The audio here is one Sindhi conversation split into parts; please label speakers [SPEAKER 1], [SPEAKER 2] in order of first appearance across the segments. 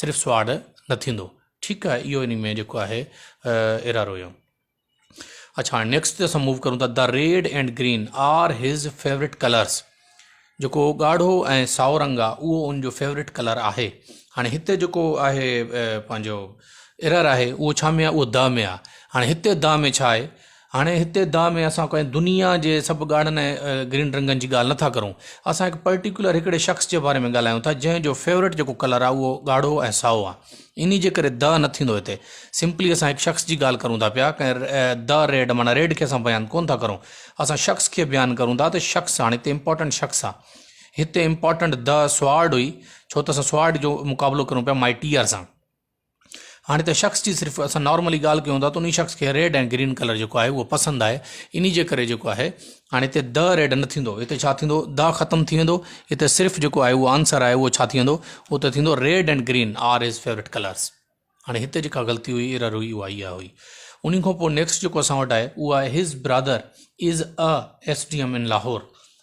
[SPEAKER 1] صرف سواڙ نه ٿيندو ٺيڪ آهي اهو ان ۾ جيڪو آهي ايرر هيو اچھا هاڻي نيڪسٽ تي اسان موو ڪرون ٿا the red and green are his favourite colours جيڪو ڳاڙهو ۽ سائو رنگ آ اهو ان جو فيوريٽ ڪلر آهي هاڻي هتي جيڪو آهي پنهنجو ايرر آهي اهو ڇا ۾ آ اهو د ۾ آ هاڻي هتي د ۾ ڇا آهي هاڻي هتي دانهن ۾ اسان ڪنهن دنيا جي سڀ ڳاڙهن ۽ گرين رنگن جي ڳالهه نٿا ڪرون. اسان هڪ پرٽيڪيولر هڪڙي شخص جي باري ۾ ڳالهايون ٿا جنهن جو فيورٽ جيڪو ڪلر آهي اهو ڳاڙهو ۽ سائو آهي. انهي جي ڪري دانهن نه ٿيندو هتي. سمپلي اسان هڪ شخص جي ڳالهه ڪرون ٿا پيا ڪنهن The Red معنيٰ ريڊ کي اسان بيان ڪونه ٿا ڪرون. اسان شخص کي بيان ڪرون ٿا ته شخص هاڻي هتي امپارٽنٽ شخص آهي. هتي امپارٽنٽ The Sword هئي ڇو ته اسان Sword جو مقابلو ڪرون پيا Mightier سان. هاڻي ته شخص جي صرف اسان نارملي ڳالهه ڪيون ٿا ته انهي شخص کي ريڊ ۽ گرين ڪلر جيڪو آهي اهو پسند آهي انهي جي ڪري جيڪو آهي هاڻي هتي د ريڊ نه ٿيندو هتي ڇا ٿيندو د ختم ٿي ويندو هتي صرف جيڪو آهي اهو آنسر آهي اهو ڇا ٿي ويندو اهو ته ٿيندو red ۽ green are his favourite colours هاڻي هتي جيڪا غلطي هئي ايرر هئي اها اها هئي انهي کان پوء نيڪسٽ جيڪو اسان وٽ آهي اهو آهي his brother is a S D M in Lahore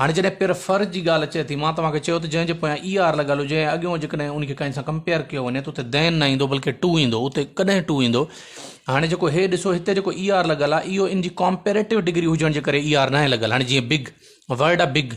[SPEAKER 1] هاڻي جڏهن پير فر جي ڳالهه اچي ٿي، مان توهان کي چيو ته جنهن جي پويان اي آر لڳل هجي ۽ اڳيون جيڪڏهن ان کي ڪنهن سان ڪمپيئر ڪيو وڃي ته اتي دين نه ايندو بلڪه ٽو ايندو، اتي ڪڏهن ٽو ايندو؟ هاڻي جيڪو هي ڏسو هتي جيڪو اي آر لڳل آهي اهو ان جي ڪمپيريٽو ڊگري هجڻ جي ڪري اي آر ناهي لڳل، هاڻي جيئن بگ ورڊ آهي بگ،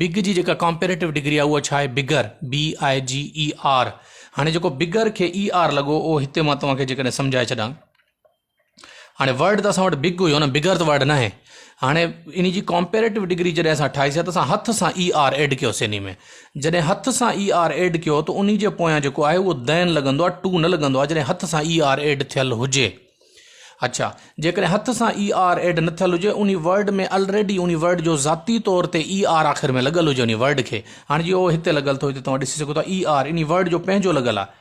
[SPEAKER 1] بگ جي جيڪا ڪمپيريٽو ڊگري آهي اها ڇا آهي بگر، BIGER، هاڻي جيڪو بگر کي اي آر لڳو اهو هتي مان توهان کي جيڪڏهن سمجهائي ڇڏان. هاڻي ورڊ ته اسان وٽ بگ هيو نه بگر ته ورڊ نه آهي هاڻي ان جي ڪامپيريٽو ڊگري جڏهن اسان ٺاهيسي ته اسان هٿ سان اي آر ايڊ ڪيوسي ان ۾ جڏهن هٿ سان اي آر ايڊ ڪيو ته ان جي پويان جيڪو آهي اهو دين لڳندو آهي ٽو نه لڳندو آهي جڏهن هٿ سان اي آر ايڊ ٿيل هجي اچھا جيڪڏهن هٿ سان اي آر ايڊ نه ٿيل هجي ان ورڊ ۾ الريڊي ان ورڊ جو ذاتي طور تي اي آر آخر ۾ لڳل هجي ان ورڊ کي هاڻي جي اهو هتي لڳل ٿو هتي توهان ڏسي سگھو ٿا اي آر ان ورڊ جو پنهنجو لڳل آهي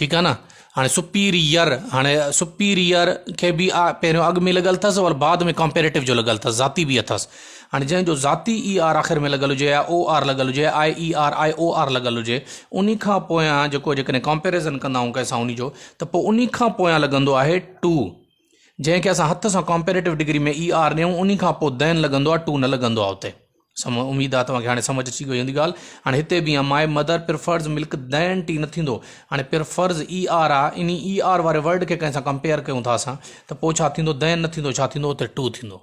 [SPEAKER 1] ٺيڪ آ نه هاڻي سپيريئر هاڻي سپيريئر کي به آ پهريون اڳ ۾ لڳل تس ور بعد ۾ ڪمپيريٽو جو لڳل تس ذاتي به اٿس هاڻي جنهن جو ذاتي اي آر آخر ۾ لڳل هجي او آر لڳل هجي I E R I O R لڳل هجي انهي کان پويان جيڪو جيڪڏهن ڪمپيريزن ڪندا آهيون ڪنهن سان انهي جو ته پو انهي کان پويان لڳندو آهي ٽو جنهن کي اسان هٿ سان ڪامپيريٽو ڊگري ۾ اي آر ڏيون انهي کان پوء دين لڳندو آهي ٽو نه لڳندو آهي اتي سم اميد آهي توهان کي هاڻي سمجھ اچي گئي هوندي ڳالهه هاڻي هتي به مائي مدر پرفرز ملڪ دين ٽي نه ٿيندو هاڻي پرفرز اي آر آ انهي اي آر واري ورڊ کي ڪنهن سان ڪمپيئر ڪيون ٿا اسان ته پوء ڇا ٿيندو دين نه ٿيندو ڇا ٿيندو اتي ٽو ٿيندو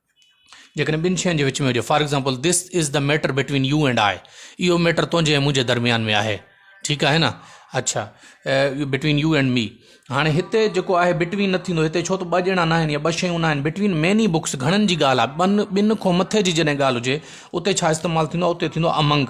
[SPEAKER 1] جيڪڏهن ٻن شين جي وچ ۾ هجي، for example This is the matter between you and I اهو ميٽر تنهنجي ۽ منهنجي درميان ۾ آهي. ٺيڪ آهي نه؟ اڇا Between you and me هاڻي هتي جيڪو آهي Between نه ٿيندو هتي ڇو ته ٻه ڄڻا ناهن يا ٻه شيون ناهن Between many books گهڻن جي ڳالهه آهي ٻن کان مٿي جي جڏهن ڳالهه هجي اتي ڇا استعمال ٿيندو آهي اتي ٿيندو آهي Among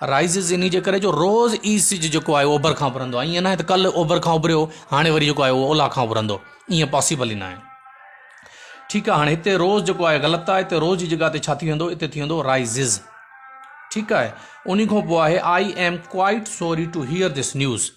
[SPEAKER 1] Rises انهي جي ڪري جو روز ئي سج جيڪو آهي اهو اوڀر کان اڀرندو آهي ائين ناهي ته ڪلهه اوڀر کان اڀريو هاڻي وري جيڪو آهي اهو اولهه کان اڀرندو ائين پاسيبل ئي ناهي ٺيڪ آهي هاڻي هتي روز جيڪو آهي غلط آهي هتي روز جي جڳهه تي ڇا ٿي ويندو هتي ٿي ويندو Rises ٺيڪ آهي انهي کان پوء آهي I am quite sorry to hear this news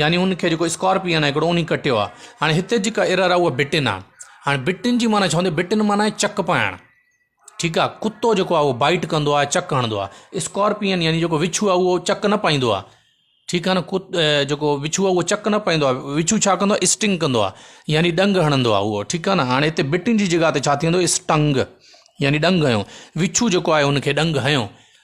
[SPEAKER 1] يعني ان کي جيڪو اسڪارپيئن آ هڪڙو انهي ڪٽيو آ هاڻي هتي جيڪا ايرر آ اها بٽن آ هاڻي بٽن جي معنيٰ چوندي بٽن معنيٰ آهي چڪ پائڻ ٺيڪ آ ڪتو جيڪو آ اهو بائٽ ڪندو آ چڪ هڻندو آ اسڪارپيئن يعني جيڪو وڇو آ اهو چڪ نه پائيندو آ ٺيڪ آ نه ڪت جيڪو وڇو آ اهو چڪ نه پائيندو آ وڇو ڇا ڪندو آ اسٽنگ ڪندو آ يعني ڏنگ هڻندو آ اهو ٺيڪ آ نه هاڻي هتي بٽن جي جڳهه تي ڇا ٿيندو اسٽنگ يعني ڏنگ هنيو وڇو جيڪو آهي ان کي ڏنگ هنيو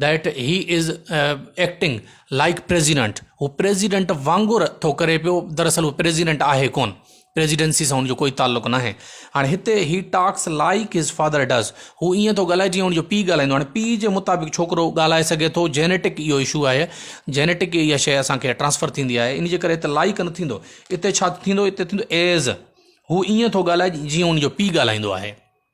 [SPEAKER 1] that he is acting like president هو پريزيڊنٽ وانگر ٿو ڪري پيو دراصل هو پريزيڊنٽ آهي ڪون پريزيڊنسي سان هن جو ڪوئي تعلق ناهي هاڻي هتي he talks like his father does هو ائين ٿو ڳالهائي جيئن هن جو پيء ڳالهائيندو هاڻي پيء جي مطابق ڇوڪرو ڳالهائي سگهي ٿو جينيٽڪ اهو اشو آهي جينيٽڪ اها شي اسانکي ٽرانسفر ٿيندي آهي ان جي ڪري هتي لائيڪ نه ٿيندو هتي ڇا ٿيندو هتي ٿيندو ايز هو ائين ٿو ڳالهائي جيئن هن جو پيء ڳالهائيندو آهي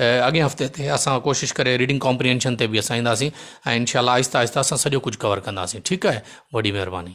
[SPEAKER 1] اڳئين هفتي تي اسان ڪوشش ڪري ريڊنگ ڪامپرينشن تي به اسان اينداسين ۽ انشاء الله آهسته آهسته اسان سڄو ڪجهه ڪور ڪنداسين ٺيڪ آهي وڏي مهرباني.